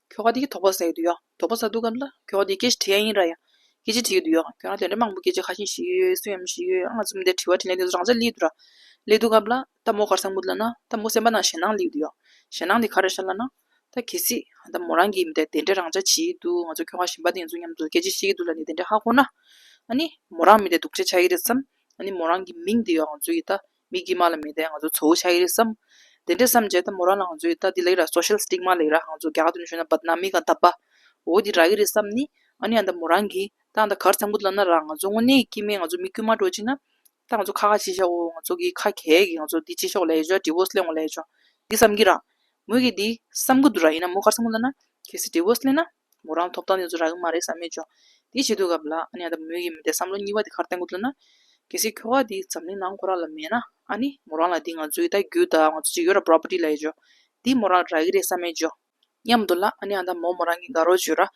ཁྱོ་ག་དེ་གི་དོགས་པ་བསལ་གི་འདུག་ཡ། དོགས་པ་བསལ་འདུག་གམ་ལ། ཁྱོ་ག་དེ་སྐད་ཆ་དྲི་ཡ་ཡིན་ར་ཡ། སྐད་ཆ་དྲི་གི་འདུག་ཡ། ཁྱོ་ག་དོན་དྲི་མང་པོ་སྐད་ཆ་ཁ་ཤིན་ཞིག་ཡོད་ཡོད་སུ་ཡམ་ཞིག་ཡོད་ཡོད་ཨང་རྩོམ་དེ་དྲི་བ་དྲི་ལེན་དེ་ཚོ་རང་ཚ་ལེ་འདུག་ར། ལེ་འདུག་གམ་ལ། ད་མོ་གར་སང་མུ་ལ་ན། ད་མོ་སེམས་པ་ནང་ཞེད་སྣང་ལེ་འདུག་ཡ། ཞེད་སྣང་དེ་ག་ར་ཤར་ལ་ན། ད་གལ་སྲིད། ད་མོ་རང་གིས་དེ་འདྲ་རང་ཅག་བྱེད་ཡི་འདུག་ང་ཚོ་ཁྱོ་ག་གཞན་པ་དེ་ཚོ་མཉམ་དུ་སྐད་ཆ་བཤད་ཀྱི་འདུག་ལ་ནི་དེ་འདྲ་ཧ་གོ་ན། ཨ་ནི། མོ་རང་མི་དེ་སྡུག་ཆ་ཆགས་ཀྱི་རེད་བསམ། ཨ་ནི་མོ་རང་གི་མིང་དེ་ཡང་ང་ཚོ་ཡི་ད། མིག་གིས་མ་ལ་མི་བལྟས་ང་ཚོ་ཚོ་བོ་ཆགས་ཀྱི་རེད་བསམ། དེ་འདྲ་བསམ་རྗེས་ད་མོ་རང་ལ་ང་ཚོ་ཡི་ད་འདི་ལེགས་ར Social Stigma ལེགས་ར་ཧང་ཚོ་རྒྱ་གར་དུ་ནས་བྱོན་ན་བར་ན་མི་གང་ད་པ་འོ་འདི་རག་གི་རེད་བསམ་ནི། ཨ་ནི་ཡང་ད་མོ་རང་གི་ད་ད་གར་འཚམས་ཁུ་བླ་ན་རག་ང་ཚོ་དངོས་གནས་ཀྱི་མི་ང་ཚོ་མི་དཀྱུས་མ་འགྲོ་ཅིག་ན། ད་ང་ཚོ་ཁ་ཁ་ཅིག་བཞག་འོ་ང་ཚོ་གི་ཁ་གས་གི་ང་ཚོ་འདི་ཅིག་ཤོག་ལས་བྱོ Divorce ལེན་འོ་ལས་བྱོ་འདི་བསམ་གི་རག། མོ་གི་འདི་བསམ་གི་འདུག་ར་ཡིན་ན་མོ་གར་འཚམས་ཁུ་བླ་ན། གལ་སྲིད Divorce ལེན་ན། མོ་རང་ཐོབ་ཐང་ཡོད་ཚོད་རག་གི་མ་རེད་བསམ་མེད་བྱོས། དེ་བྱེད་དུས་སྐབས་ལ་ཨ་ནེ་ཨ་ད་མོའི་ཡིན་མི་འདའི་བསམ་བློ་གཉིས་པ་དེ་ཁར་བསྟན་དགོས་ཚོད་ན། གལ་སྲིད་ཁྱོ་ག་དེ་འཛམ་གླིང་ནང་ཁོ་རང་ལ་མེད་ན་ཨ་ནེ་མོ་རང་ལ་དེ་ང་ཚོའི་ད་རྒྱུ་ད་ང་ཚོ་ཅིག་ཡོད་ར property ལ་ཡོད་བྱོས། དེ་མོ་རང་རག་གི་རེད་བསམ་མེད་བྱོས། མཉམ་དུ་ལ་ཨ་ནེ་ཨ་ད་མོ་མོ་རང་གི་དགའ་རོགས་བྱོས་ར།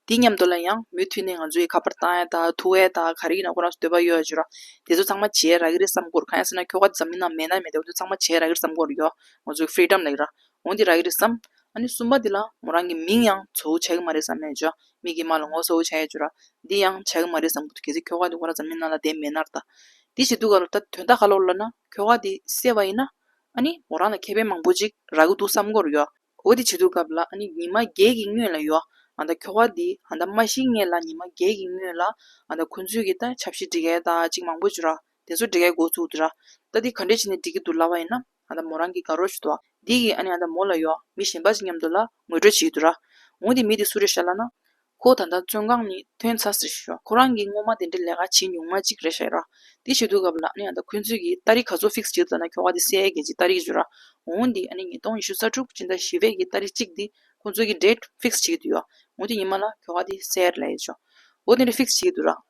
དེ་མཉམ་དུ་ལ་ཡང་མུ་མཐུད་ནས་ང་ཚོ་ཡི་ཁ་པར་ཏའེ་ད་ཐུ་ཨེ་ད་ག་རེ་ཡིན་ན་ཁོ་རང་ཚོ་འདོད་པ་ཡོད་བྱོས་ར། དེ་ཚོ་ཚང་མ་བྱས་རག་གི་རེད་བསམ་དགོས་ར་གང་ཡང་སྲིད་ན་ཁྱོ་ག་འཛམ་གླིང་ནང་མེད་ན་མེད་དེ་ཚོ་ཚང་མ་བྱས་རག་གི་རེད་བསམ་དགོས་ར་ཡོད། ང་ཚོ་ཀྱི freedom ལ་ཡོད་ར། འོན་ཏེ་ར་ཡིག་རེད་བསམ། ཨ་ནུ་གསུམ་པ་འདི་ལ་མོ་རང་གི་མིང་ཡང་བཟོ་བོ་བྱ་གི་མ་རེད་བསམ་ནས་ཇོ་མིག་གི་མ་ལ་ངོ་བཟོ་བོ་བྱ་ཡས་ཇོ་ར། འདི་ཡང་བྱ་གི་མ་རེད་བསམ་གི་འདུག་གལ་སྲིད་ཁྱོ་ག་འདི་ཧོར་ར་འཛམ་གླིང་ནང་ལ་དེ་མེད་ནར་ད། འདི་ཞེས་འདུག་ག་ལོ་ད་དོན་དག་ག་ལོར་ལབ་ན་ཁྱོ་ག་འདི་གསལ་བ་ཡིན་ན། ཨ་ནི་མོ་རང་ལ་ཁེ་ཕན་མང་པོ་ཅིག་རག་གི་འདུག་བསམ་གོ་རུ་ཡོད། འོ་དེ་བྱེད་འདུག་སྐབས་ལ་ཨ་ནི་ཉི་མ་བརྒྱད་ཀྱི་སྔོན་ལ་ཡོད། ཨ་ད་ཁྱོ་ག་འདི་ཨ་ད་མ་ཤི་ངེས་ལ་ཉི་མ་བརྒྱད་ཀྱི་སྔོན་ལ་ཨ་ད་ཁོ་ཚོས་ཀྱི་ད་ཆབ་སྲིད་སྒྲིག་གལ་དག་ཅིག་མང་པོ་ཇོ་ར། དེ་ཚོ་སྒྲིག་གལ་འགོ་བཙུགས་འདུག་ར། ད་འདི་ག་འདྲས་བྱས་ནས་སྒྲིག་གི་འདུག་ལབ་བ་ཡིན་ན། ཨ་ད་མོ་རང་གི་དགའ་རོགས་ཞུ་དོ། འདི་གིས་ཨ་ནེ་ཨ་ད་མོ་ལ་ཡོག་མི་གཞན་པ་ཅིག་མཉམ་དུ་ལ་ངོས་སྤྲོད་བྱེད་ཀྱི་འདུག་ར། འོང་དེ་མི་དེ་སུ་རེད་ཤ་ལ་ན། ཁོ་ད་ལྟ་བཙོན་ཁང་ནས་ཐོན་ཚར་ཟེར་ཞོག་ཁོ་རང་གིས་སྔོན་མ་དེ་འདྲའི་ལས་ཀ་བྱེད་མྱོང་མ་ཅིག་རེད་ཤ་ར། དེ་བྱེད་དུས་སྐབས་ལ་ཨ་ནེ་ཨ་ད་ཁོ་ཚོས་ཀྱིས་ལྟ་རིགས་ག་ཚོད་ཕིགས་བྱེད་དུ་ད་ན་ཁྱོ་ག་དེ་སའི་གན་ཅིག་ལྟ་རིགས་བརྗོད་ར། འོང་དེ་ཨ་ནེ་ཉིས་སྟོང་ཉི་ཤུ་རྩ་དྲུག་སྤྱི་ཟླ་བཞི་བའི་གི་ལྟ་རིགས་གཅིག་དེ་ཁོ་ཚོས་ཀྱིས་འདྲེས་ཕིགས་བྱེད་ཀྱི་འདུག་ཡོ། འོང་དེ་ཉི་མ་ལ་ཁྱོ་ག་དེ་སའི་ར་ལ་ཡོད་ཅོ། འོ་དེ་འདྲའི་ཕིགས་བྱེད་ཀྱི་འདུག་ར།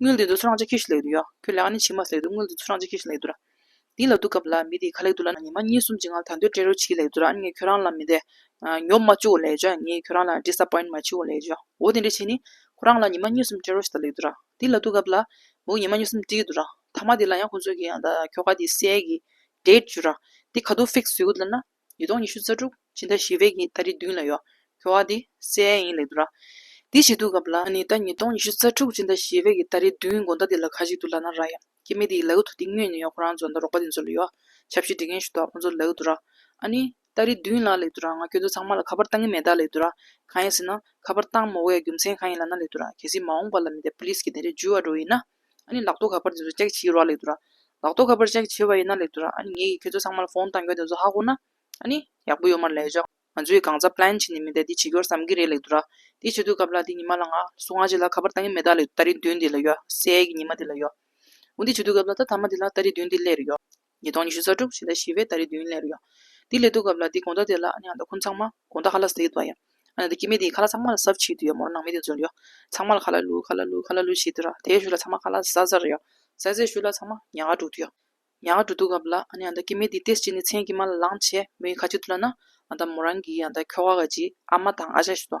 དངུལ་འདི་ཚོ་ཚོ་རང་ཅག་ཁྱོད་ཤི་ལེགས་འདུག་ཡ། ཁྱོད་ལེགས་ནི་ཕྱི་མ་ལེགས་འདུག་དངུལ་འདི་ཚོ་རང་ཅག་ཁྱོད་ཤི་ལེགས་འདུག་ར། འདི་ལ་འདུག་སྐབས་ལ་མི་དེ་ག་ལེགས་འདུག་ལ་ཉི་མ་གཉིས་གསུམ་གྱི་ངང་ད་འདོད་སྤྲད་རོགས་བྱེད་ཀྱི་ལེགས་འདུག་ར་ངས་ཁྱོད་རང་ལ་མི་དེ། ཉོབ་མ་བཅུག་ལེགས་བྱ་ངས་ཁྱོད་རང་ལ Disappoint མ་བྱེད་ལེགས་བྱ་འོ་དེ་འདྲ་བྱས་ནས། ཁོ་རང་ལ་ཉི་མ་གཉིས་གསུམ་སྤྲད་རོགས་བྱེད་ད་ལེགས་འདུག་ར། འདི་ལ་འདུག་སྐབས་ལ། མོ་ཉི་མ་གཉིས་གསུམ་བྲིས་འདུག་ར། མཐའ་མ་དེ་ལ་ཡང་ཁོ་ཚོས་ཀྱིས་ཡང་ད་ཁྱོ་ག་དེའི་སྲས་ཀྱི། Date། བྱོས་ར། དེ་ག་དུག Fix བཟོས་ཀྱི་འདུག་ལ་ན། ཉིས་སྟོང་ཉི་ཤུ་རྩ་དྲུག་སྤྱི་ཟླ་བཞི་བའི་ཉིན་ཟླ་རེ་བདུན་ལ་ཡོད། གོ་བ་འདི་གསལ་ཡིན་ལེགས་འདུག་ལ། འདི་ཞིག་འདུག་གམ་ལ། ད་ནི་ཟླ་ཉིས་སྟོང་ཉི་ཤུ་རྩ་དྲུག་སྤྱི་ཟླ་བཞི་བའི་ཉིན་ཟླ་རེ་བདུན་དགོན་ཟླ་འདི་ལ་ག་ཞིག་འདུག་ལ་ན་ར་ཡ། ཁྱེད་མི་འདིའི་ལག་ཏུ་འདི་དངོས་ནས་ཡོད་ཁོ་རང་ཚོ་འདི་རོགས་པ་འདི་ཚོ་ལ་ཡོད། ཆ་བཞི་འདྲི་མཁན་ཞིག་འདུག་ཁོ་ཚོ་ལ་ལེགས་འདུག་ར། ཨ་ནི། ཟླ་རེ་བདུན་ལ་ལེགས་འདུག་ར་ང་ཁྱོད་ཚོ་ཚང་མ་ལ་ཁ་པར་བཏང་གི་མེད་ད་ལེགས་འདུག་ར། གང་ཡིན་ཟེར་ན། ཁ་པར་བཏང་མོ་བའི་རྒྱུ་མཚན་གང་ཡིན་ལ་ན་ལེགས་འདུག་ར་གལ་སྲིད་མ་འོངས་པ་ལ་མི་དེ Police གི་དེ་འདྲའི་འཇུ་བ་འགྲོ་ཡིན་ན། ཨཱ། ལག་ཏུ་ག་པར་དེ་ཚོ་ལྕགས་བྱིའི་རོ་ལ་ལེགས་འདུག་ར། ལག་ཏུ་ག་པར་ལྕགས་བྱི་བ་ཡིན་ན་ལེགས་འདུག་ར། ཨཱ། ངེད་ཀྱིས་ཁྱོད་ཚོ་ཚང་མ་ལ་ཧྥོང་བཏང་རྒྱུ་དེ་ཚོ་ཧ་གོ་ན། ཨཱ། ཡག་པོ་ཡོད་མར་ལས་བྱོས། ང་ཚོས་གང་ཟག plan བྱེད་ནི་མི་འདའི་དེ་བྱེད་རྒྱུར་བསམ་གྱི་རེད་ལེགས་འདུག་ར། དེ་བྱེད་དུས་སྐབས་ལ་དེ་ཉི་མ་ལ་ང། སུ་ང་བྱེད་ལ་ག་པར་བཏང་གི་མེད་ད་ལེགས་འདུག་ད་རེ་བདུན་དེ་ལ་ཡོད། སའི་གི་ཉི་མ་དེ་ལ་ཡོད། འོ་དེ་བྱེད་དུས་སྐབས་ལ་ད་ཐ་མ་དེ་ལ་ད་རེ་བདུན་དེ་ལས་རེ་ཡོད། ཉིས་སྟོང་ཉི་ཤུ་རྩ་དྲུག་ཕྱི་ཟླ་བཞི་བའི་ཟླ་རེའི་བདུན་ལས་རེར་ཡོང། དེའི་ལས་དུས་སྐབས་ལ་འདི་དགོངས་དག་དེ་ལ་ཡང་དག་ཁུངས་ཚང་མ་དགོངས་དག་ཧ་ལགས་ཟེར་གྱི་འདུག་བ་ཡང། ཨ་ན་དེ་སྐྱེ་མེད་དེའི་ཁ་ལ་ཚང་མ་ལ་ཟབ་ཆེའི་དུས་ཡོད་མོ་རང་ནང་མི་དེ་འཛུལ་ཡོད། ཚང་མ་ལ་ཁ་ལ་ལུ་ཁ་ལ་ལུ་ཁ་ལ་ལུ་ཞེས་དུས་ར་དེའི་ཤུལ་ལ་ཚང་མ་ཁ་ལ་ཟ་ཟ་རེ་ཡོད། ཟས་ཟས་ཤུལ་ལ་ཚང་མ་ཉག་ག་དྲུག་དུས་ཡོད། ཉག་ག་དྲུག་དུས་སྐབས་ལ་ཨ་ན་ཡང་དག་སྐྱེ་མེད་དེའི་ཏེས་ཅི་ནས་མཚན་གྱི་མ་ལ་ལངས་བྱས་མོའི་ཁ་ཕྱི་དུ་ལ་ན། ཨ་ད་མོ་རང་གིས་ཡང་དག་ཁྱོ་ག་ག་ཅིག་ཨ་མ་དང་ཨ་ཅག་ཞུ་དོ།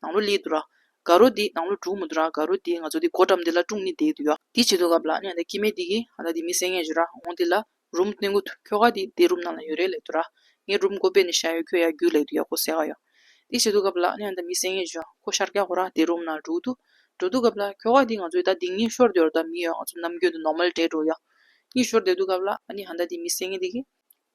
ནང་ལོ་ལི་འདུག་ར། དགའ་རོ་འདི་ནང་ལོ་དྲུག་མོ་འདུག་ར་དགའ་རོ་འདི་ང་ཚོ་འདི་སྒོ་འགྲམ་འདི་ལ་ཀྲུང་ནི་འདེད་འདུག་ཡ། འདི་བྱེད་འདུག་ག་བ་ལ་ནི་འདི་སྐྱི་མེད་འདི་གི་ཨ་ད་འདི་མི་སེ་ངས་བྱོས་ར་འོང་འདི་ལ་རུམ་སྟོན་གོ་ཐུ་ཁྱོ་ག་འདི་འདི་རུམ་ནང་ལ་ཡོད་རེད་ལེགས་འདུག་ར་ངས་རུམ་སྒོ་སྦས་ནི་བྱ་ཡོད་ཁྱོད་ཡ་རྒྱུག་ལེགས་འདུག་ཡ་ཁོ་སེ་ག་ཡ། འདི་བྱེད་འདུག་ག་བ་ལ་ནི་ཨ་ད་མི་སེ་ངས་བྱོས་ཁོ་ཤར་སྐྱ་ཁོ་ར་འདི་རུམ་ནང་འགྲོ་འདུག་འགྲོ་འདུག་ག་བ་ལ་ཁྱོ་ག་འདི་ང་ཚོའི་ད་འདི་གཉིས་ཤོར་འདོད་ར་ད་མི་ཡོད་ང་ཚོ་ནམ་རྒྱུན་དུ་ནོར་མལ་བྲེད་འགྲོ་ཡ། གཉིས་ཤོར་འདེད་འདུག་ག་བ་ལ་ཨ་ནི་ཧ་ད་འདི་མི་སེ་ངས་འདི་གི།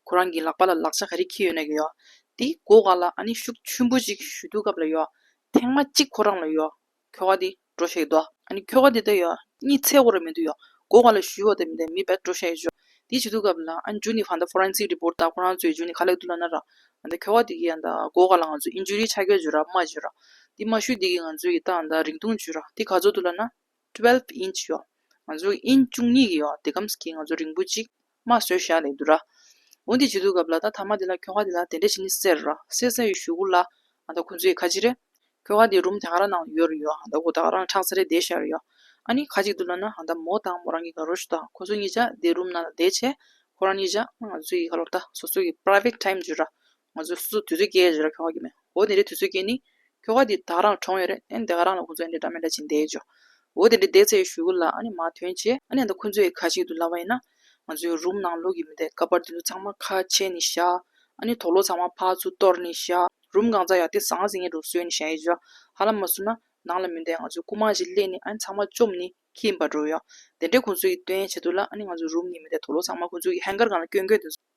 ཁོ་རང་གི་ལག་པ་ལ་ལག་ཆ་ག་རེ་འཁྱིལ་ཡོད་ན་ཡོད། དེ་སྒོ་ཁ་ལ་ཨ་ནེ་ཤུགས་ཆུན་པོ་ཅིག་ཞུ་དུས་སྐབས་ལ་ཡོད། ཐེངས་མ་གཅིག་ཁོ་རང་ལ་ཡོད། ཁྱོ་ག་དེ་འགྲོ་ཤེས་དོ། ཨ་ནེ་ཁྱོ་ག་དེ་ལྟ་ཡོད། གཉིད་ཚད་ཁོ་ར་མེད་དུ་ཡོད། སྒོ་ཁ་ལ་ཞུ་ཡོད་དེ་མེད་དེ་མི་བད་འགྲོ་ཤེས་ཡོད། དེ་བྱེད་དུས་སྐབས་ལ་ཨ་ཇུ་ནི་བྷ་འདའ Forensic Report ད་ཁོ་རང་ཚོའི་ཇུ་ནི་ཁ་ལེགས་འདུག་ལ་ན་ར། ཨ་ད་ཁྱོ་ག་དེ་གིས་ད་སྒོ་ཁ་ལ་ང་ཚོའི Injury ཆ་རྐྱལ་ཇུ་ར་རྨ་ཇུ་ར། དེ་མ་ཞུས་དེ་གིས་ང་ཚོའི་གི་ད་ཨ་ད་རིང་ཐུང་ཇུ་ར་དེ་ག་ཚོད་འདུག་ལ་ན། Twelve Inch ཡོད། ང་ཚོའི་གི Inch བཅུ་གཉིས་གི་ཡོད་དེ་གམ་སྐྱིད་ང་ཚོ་རིང་པོ་ཅིག། མ་བཟོད་ཞག་ལས་བསྡུ་ར། འོན་ཏེ་བྱི་དུར་གབ་ལ་ད་ཐ་མ་དེ་ལ་ཁྱོ་ག་དེ་ལ་དེ་འདྲ་བྱིན་ནི་ཟེར། སེ་ས་ཡི་ཞུ་གུ་ལ། ཨ་ད་ཁོ་ཚོ་ཡི་ཁ་ཅི་རེད། ཁྱོ་ག་དེ་རུམ་དེ་ག་ར་ནང་ཡོད་རེད་ཡོད་ཨ་ད་ཁོ་ད་ག་རང་ཁྲག་ས་རེད་བསྡད་ཤག་རེད་ཡོད། ཨ་ནི་ཁ་ཅིག་ཏུ་ལ་ན་ཨ་ད་མོ་དང་མོ་རང་གི་ག་རོ་ཞུ་ད་ཁོ་ཚོ་གཉིས་ཅག་དེ་རུམ་ནང་ལ་བསྡད་བྱས། ཁོ་རང་གཉིས་ཅག་ང་ཚོ་ཡི་ག་ལོར་ད་སོ་སོ་གི Private Time བརྗོད་ར། ང་ཚོས་སོ་སོ་དུས་ཚོད་སྐྱེལ་ཡ་རེད་ར་ཁྱོ་ག་གི་མེད་འོ་དེ་འདྲའི་དུས་ཚོད་སྐྱེལ་ནི། ཁྱོ་ག་དེ་དག་རང་གྲོངས་ཡོད་རེད་ཨན་དེ་ག་རང་ལ་ཁོ་ཚོ་ཨན་དེ་འདྲ་མི་འདྲ་བྱིན་བསྡད་འཇོག་འོ་དེ་འདྲའི་བསྡད་ཚད་ཞུ་གུ་ལ་ཨ་ནི་མ་ཐོན་བྱས་ཨ་ནི་ད་ཁོ་ཚོའི་ཁ་ཞིག་ཏུ་ལབ་པ་ཡིན་ན། ང་ཚོའི་རུམ་ནང་ལོག་གི་མི་འདེད་ཀ་པར་དེ་ཚོ་ཚང་མ་ཁ་ཕྱེ་ནི་བཞག་ཨ་ནི་དོག་ལོ་ཚང་མ་ཕག་ཆུ་གཏོར་ནི་བཞག་རུམ་གང་ཙམ་ཡག་དེ་ཟང་ཟིང་ཡེ་འགྲོ་གསོལ་ནི་བཞག་ཡེ་འཇོག་ཧ་ལམ་མ་བསུ་ན་ནང་ལ་མི་འདེད་ང་ཚོའི་སྐུ་མང་ཞིག་གླས་ནི་ཨ་ནི་ཚང་མ་བཅོམ་ནི་ཁྱི་ཡིན་པ་འགྲོ་ཡོང་དེ་འདྲའི་ཁོ་ཚོའི་ཀྱི་སྟོན་བྱེད་དུ་ལ་ཨ་ནི་ང་ཚོའི་རུམ་ནི་མི་འདེད་དོག་ལོ་ཚང་མ་ཁོ་ཚོའི་ཀྱི་ཧན་གར་གང་ལ་བསྐྱོན་བསྐྱོན་དེ་ཚོ།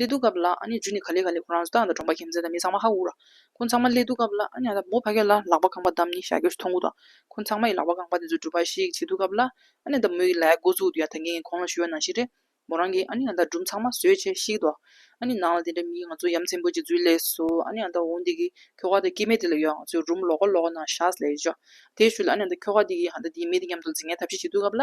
ཀླད་སྡུག་སྐབས་ལ་རྒྱུ་ནི་ག་ལེ་ག་ལེ་ཁོ་རང་སྟག་དང་འབྲོང་པ་ཁྱིམ་མཚེས་དང་མི་ཚང་མ་ཧ་གོ་ར། ཁོ་ཚང་མ་ཀླད་སྡུག་སྐབས་ལ་ཡང་དག་མོ་ཕ་སྐད་ལ་ལག་པ་རྐང་པ་བསྡམས་ནས་ཞྭ་གྱོས་སུ་ཐོང་གོ་དང། ཁོ་ཚང་མ་ཡི་ལག་པ་རྐང་པ་དེ་ཚོ་སྒྲུབ་པ་ཞིག་བྱེད་འདུག་སྐབས་ལ། ཡང་དག་མོ་ཡི་ལག་མགོ་བཙུགས་དུས་ཡང་དག་ངས་ཁོང་ལ་ཞུ་བ་ནང་བཞིན་རེད། མོ་རང་གིས་ཡང་དག་སྒྲུབ་མཚང་མ་བཟོས་བྱས་ཤིག་དང། ནང་ལ་དེ་འདྲ་མིའི་ང་ཚོ་ཡ་མཚན་བོད་ཀྱི་རྫུས་ལས་སུ་ཡང་དག་འོང་དེ་གི་ཁྱོ་ག་དང་སྐྱེས་མེད་དེ་ལ་ཡང་ང་ཚོས་རུམ་ལོག་ཀ་ལོག་ནང་ཞྭ་ཟ་ལས་བཞག་དེ་ཞུ་ལ་ཡང་དག་ཁྱོ་ག་དེ་གི་ཡང་དག་དེའི་མི་དེ་མཉམ་དུ་རྫི་ངན་ཐབས་ཤེས་བྱེད་འདུག་སྐབས་ལ།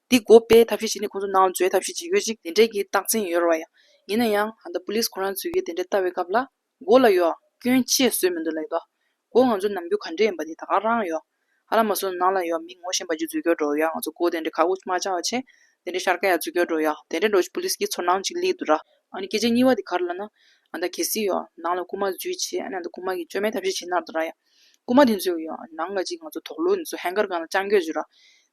འདི་མགོ་སྤེལ་ཐབས་ཤེས་བྱས་ནས་ཁོང་ཚོ་ནང་འཛུལ་ཐབས་ཤེས་བྱེད་ཡོད་ཅིག་དེ་འདྲས་ཀྱི་རྟགས་མཚན་ཡོད་རེ་བ་ཡང། ཡིན་ན་ཡང་ད་པུ་ལིས་ཁོ་རང་འཛུལ་གྱིས་དེ་འདྲས་བལྟ་བའི་སྐབས་ལ། མགོ་ལ་ཡོག་སྐྱོན་ཆེ་བཟོས་མི་འདུག་ལེགས་འདུག་མགོ་ང་ཚོ་ནམ་རྒྱུན་ག་འདྲས་ཡིན་པ་དེ་ད་ག་རང་ཡོག་ཧ་ལ་མ་སོ་ནང་ལ་ཡོག་མི་ངོ་ཤེས་པ་ཅིག་འཛུལ་སྐྱོར་འགྲོ་ཡོག་ང་ཚོ་མགོ་དེ་འདྲས་ཁ་འུག་མ་བྱ་བ་ཆེ་དེ་འདྲས་ཤར་ཀ་ཡག་འཛུལ་སྐྱོར་འགྲོ་ཡོག་དེ་འདྲས་འགྲོ་ཆེ་པུ་ལིས་ཀྱི་ཚོར་སྣང་ཅིག་གླེགས་འདུག་ར། ཨ་ནི་སྐད་ཆ་གཉིས་པ་དེ་ག་རེ་ལ་ན། ཨ་ད་གལ་སྲིད་ཡོག་ནང་ལ་རྐུ་མ་འཛུལ་ཆེ་ཨ་ནི་ད་རྐུ་མ་གིས་བཅོས་མའི་ཐབས་ཤེས་བྱེད་ནར་འདུག་ར་ཡ། རྐུན་མ་དེ་ཚོའི་ནང་ལ་ཅིག་ང་ཚོ་དོག་ལུ་ནས་ཚོ་ཧན་གར་གང་ལ་སྤྱང་རྒྱོད་བྱོས་ར།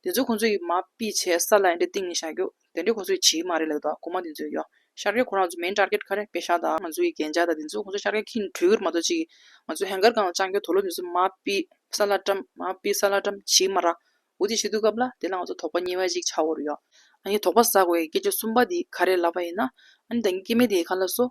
དེ་ཚོ་ཁོང་ཚོའི་མ་པི་བྱས་ས་ལ་ཡན་དྲེ་ཏིང་ནས་བཞག་རྒྱོ། དེ་འདྲེ་ཁོང་ཚོའི་བྱིའི་མ་རེད་ལགས་དོ་རྐུན་མ་དེ་ཚོའི་ཡོ། ཤར་ཀེར་ཁོ་རང་ཚོ་མེན་ཏར་ཀེར་ཁ་རེ་པེ་ཤ་དང་ང་ཚོའི་གན་རྒྱ་དང་དེ་ཚོ་ཁོང་ཚོ་ཤར་ཀེར་ཁིན་བྲུས་གིར་མ་ཚོ་ཅིག་ང་ཚོ་ཧན་གར་གང་ལ་སྤྱང་རྒྱོ་དོག་ལུ་ནས་ཚོ་མ་པི་ས་ལ་ཏྲམ་མ་པི་ས་ལ་ཏྲམ་བྱིའི་མ་ར། འུ་དེ་བྱེད་དུས་སྐབས་ལ་དེ་ལ་ང་ཚོ་དོག་པ་གཉིས་བ་ཅིག་ཆགས་འོར་ཡོ། ཨ་ནི་དོག་པ་ཟག་བའི་སྐད་ཆ་གསུམ་པ་དེ་ག་རེ་ལབ་པ་ཡིན་ན། ཨ་ནི་ད་ངའི་སྐྱེ་དམན་དེའི་ཁ་ལ་སོ།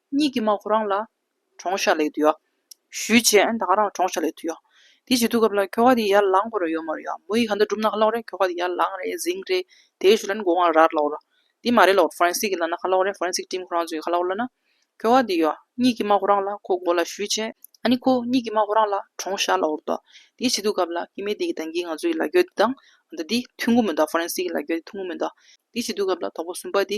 གཉིས་ཀྱིས་མ་ཁོ་རང་ལ། གྲོང་ཤར་ལེགས་དུ་ཡོད། ཞུས་བྱས་ཨན་ད་ང་རང་གྲོང་ཤར་ལེགས་དུ་ཡོད། དེ་བྱེད་དུས་སྐབས་ལ་ཁྱོ་ག་དེ་ཡར་ལངས་དགོས་ར་ཡོད་མ་རེད་ཡ། མོ་ཡིས་གང་འདྲ་བསྒྲུབ་ན་ཁ་ལོག་རེད་ཁྱོ་ག་དེ་ཡར་ལངས་རེད་གཟིང་རེད་དེ་ཞུས་ལ་ནི་དགོ་ང་རར་ལོག་ར། དེ་མ་རེད་ལོག་ཧྥ་རན་སིག་གི་ལ་ན་ཁ་ལོག་རེད་ཧྥ་རན་སིག་ཀྲིམ་ཁོ་རང་ཚོ་ཡི་ཁ་ལོག་ལ་ན། ཁྱོ་ག་དེ་ཡོད། གཉིས་ཀྱིས་མ་ཁོ་རང་ལ་ཁོ་དགོ་ལ་ཞུས་བྱས་ཨ་ནི་ཁོ་གཉིས་ཀྱིས་མ་ཁོ་རང་ལ་གྲོང་ཤར་ལོག་ར་དོ། དེ་བྱེད་དུས་སྐབས་ལ་ཁྱི་མེད་དེ་གི་ད་གིས་ང་ཚོ་ཡི་ལ་རྒྱོ་དེ་དང། ཨ་ད་དེ་ཐུགས་མགོ་མོ་འདའ་ཧྥ་རན་སིག་གི་ལ་རྒྱོ་དེ་ཐུགས་མགོ་མོ་འདའ། དེ་བྱེད་དུས་སྐབས་ལ་དོག་པོ་སུན་པ་དེ།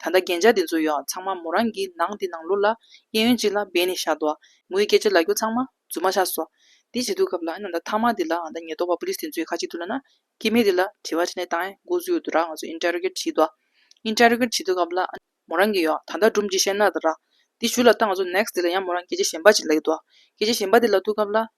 ད་ལྟ་རྒྱན་ཆ་དེ་ཚོ་ཡང་ཚང་མ་མོ་རང་གིས་ནང་དེ་ནང་ལོག་ལ་གཡས་གཡོན་གཅིག་ལ་སྦས་ནས་བཞག་འདུག་ངོས་སྐད་ཆ་ལ་རྒྱུ་ཚང་མ་རྫུན་མ་ཆགས་སོ། དེ་བྱེད་འདུག་སྐབས་ལ་ཨ་ན་ད་ཐང་མ་དེ་ལ་ཨ་ན་ཉེས་རྟོག་པ police དེ་ཚོས་ཁ་ཅིག་ཏུ་ལ་ན་སྐྱེ་མེད་དེ་ལ་དྲི་བ་དྲིས་ནས་ཏང་ཨའི་འགོ་གཙོའི་འོས་བསྡུ་ར་ང་ཚོ interrogate བྱེད་འདུག interrogate བྱེད་འདུག་སྐབས་ལ་ཨ་མོ་རང་གིས་ཡང་ད་ལྟ་སྒྲུབ་མཆིས་བཤད་ན་ད་ར། དེ་ཞུས་ལ་ཏང་ང་ཚོ next དེ་ལ་ཡང་མོ་རང་སྐད་ཆ་གཞན་པ་ཅིག་ལ་ཡོད་འདུག་སྐད་ཆ་གཞན་པ་དེ་ལ་ཐུག་སྐབས་ལ་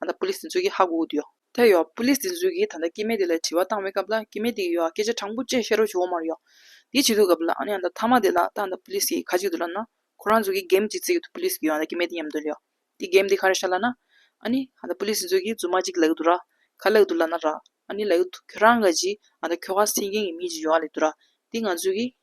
ད་ལྟ་པུ་ལིས་དེ་ཚོའི་གིས་ཧ་གོ་གི་འདུག་ཡོད། དེ་ཡོད་པུ་ལིས་དེ་ཚོའི་གིས་ད་ལྟ་སྐྱེས་མེད་དེ་ལ་དྲི་བ་བཏང་བའི་སྐབས་ལ་སྐྱེས་མེད་དེ་གིས་ཡོད་སྐད་ཆ་དྲང་པོ་བཅས་བཤད་རོགས་བྱོས་འོ་མ་རེད་ཡོད། དེ་བྱེད་དུས་སྐབས་ལ་ཨ་ནི་ཨ་ད་ཐ་མ་དེ་ལ་ད་ཨ་ད་པུ་ལིས་གིས་ཁ་གཅིག་ཏུ་ལབ་ན། ཁོ་རང་ཚོའི་གིས་འགེམ་གཅིག་བརྩེགས་ཀྱི་འདུག་པུ་ལིས་གིས་ཡོད་ད་སྐྱེས་མེད་དེ་ཉམས་དོན་རེད་ཡོད། དེ་འགེམ་དེ་ཁ་རེ་ཤར་ལབ་ན། ཨ་ནི་ཨ་ད་པུ་ལིས་དེ་ཚོའི་གིས་རྫུན་མ་གཅིག་ལབ་གི་འདུག་ར། ཁ་ལབ་གི་འདུག་ལབ་ན་ར། ཨ་ནི་ལབ་གི་འདུག་ཁྱོད་རང་གིས་ཨ་ད་ཁྱོ་ག་སེང་རྒྱན་གྱི་མི་གཅིག་ཡོད་རེད་འདུག་ར། དེ་ང་ཚོའི་གིས།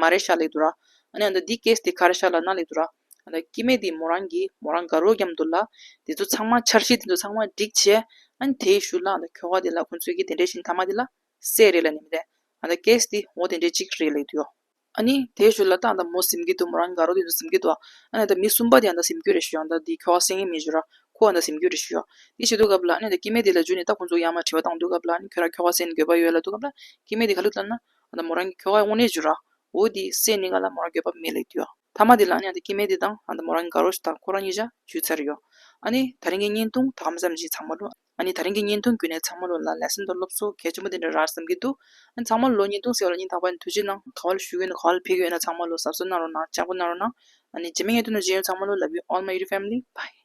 མ་རེ་ཤ་ལེགས་འདུག་ར། ཨ་ནེ་འདི་འདི་སྐད་སྟེ་ཁ་རེ་ཤ་ལ་ན་ལེགས་འདུག་ར། ཨ་ལ་སྐྱིད་མེད་འདི་མོ་རང་གིས་མོ་རང་དགའ་རོགས་རྒྱབ་འདུག་ལ། དེ་ཚོ་ཚང་མ་འཆར་གཞི་དེ་ཚོ་ཚང་མ་སྒྲིག་བྱས། ཨ་ནེ་དེ་ཡི་ཞུ་ལག་ལ་ཁྱོ་ག་དེ་ལ་ཁོ་ཚོས་ཀྱི་དེ་འདྲའི་བཞིན་ཐ་མ་དེ་ལ། སད་རེད་ལ་ནི་མི་རེད། ཨ་ལ་སྐད་སྟེ་འོ་དེ་འདྲའི་ཅིག་རེད་ལེགས་འདུག་ཡོ། ཨ་ནེ་དེ་ཞུ་ལ་ལྟ་འདའ་མོ་སིམ་གྱི་འདུག་མོ་རང་གི་དགའ་རོགས་དེ་ཚོ་སིམ་གྱི་འདུག་ཨ། ཨ་ནེ་འདའ་མི་གསུམ་པ་དེ་ཡང་འདའ་སིམ་གྱི་རེད་ཞུ་ཡང་འདའ་འདི་ཁྱོ་ག་སེང་ངེ་མི་ཞུ་ར། ཁོ་ཡང་འདའ་སིམ་གྱི་རེད་ཞུ་ཡོ། དེ་བྱེད་འདུག་སྐབས་ལ་ཨ་ནེ་འདའ་སྐྱིད་མེད་དེ་ལ་འཇུས་ནས་ལྟ་ཁོ་ཚོ་ཡང་མ་བྲིས་པ་བཏང་འདུག་སྐབས་ལ་ཨ་ནེ་ཁྱོད་ར་ཁྱོ་ག་སེན་དགོས་པ་ཡོད་ལ་འདུག་སྐབས་ལ་སྐྱིད་མེད་དེ་ག་ལུགས་ལྟ་ན། ང་ད་མོ་རང་གི་ཁྱོ་ག་དབུགས་ནད་བྱུར་ར་འོ་དེའི་སྲས་ནི་ང་ལ་མོ་རང་འགྱོད་པ་མེད་ལས་དུས་ཐ་མ་དེ་ལ་ཨ་ནེ་དང་སྐྱེ་མེད་དེ་དང་ང་ད་མོ་རང་གི་དགའ་རོགས་ཤིག་དང་ཁོ་རང་གཉིས་ཆ་ཇུས་ཚར་ཡོད་ཨ་ནེ་ད་རིང་གི་བརྙན་ཐུང་ད་གམ་བསམ་གྱིན་ཚང་མ་ལོས་ཨ་ནེ་ད་རིང་གི་བརྙན་ཐུང་བརྒྱུད་ནས་ཚང་མ་ལོས་ལ་ལས་སེམས་དང་སློབ་གསོ་གལ་ཆེན་པོ་དེ་འདྲ་ར་བསམ་གྱིན་འདུག་ཨ་ནེ་ཚང་མ་ལོས་བརྙན་ཐུང་ཟེར་བ་ལ་སྙིང་ཐག་པ་ནས་ཐུགས་རྗེ་གནང་ག་བ་ལ་ཞུ་གི་ཡོད་ན་ག་བ་ལ་ཕེབས་ཀྱི་ཡོད་ན་ཚང་མ་ལོས་ཟབ་གསོ་གནང་རོགས་གནང་ལྕགས་པོ་གནང་རོགས་གནང་ཨ་ནེ་རྗེས་མའི་བརྙན་ཐུང་དང་གཞན་ཡང་ཚང་མ་ལོས love you all my youtube family bye།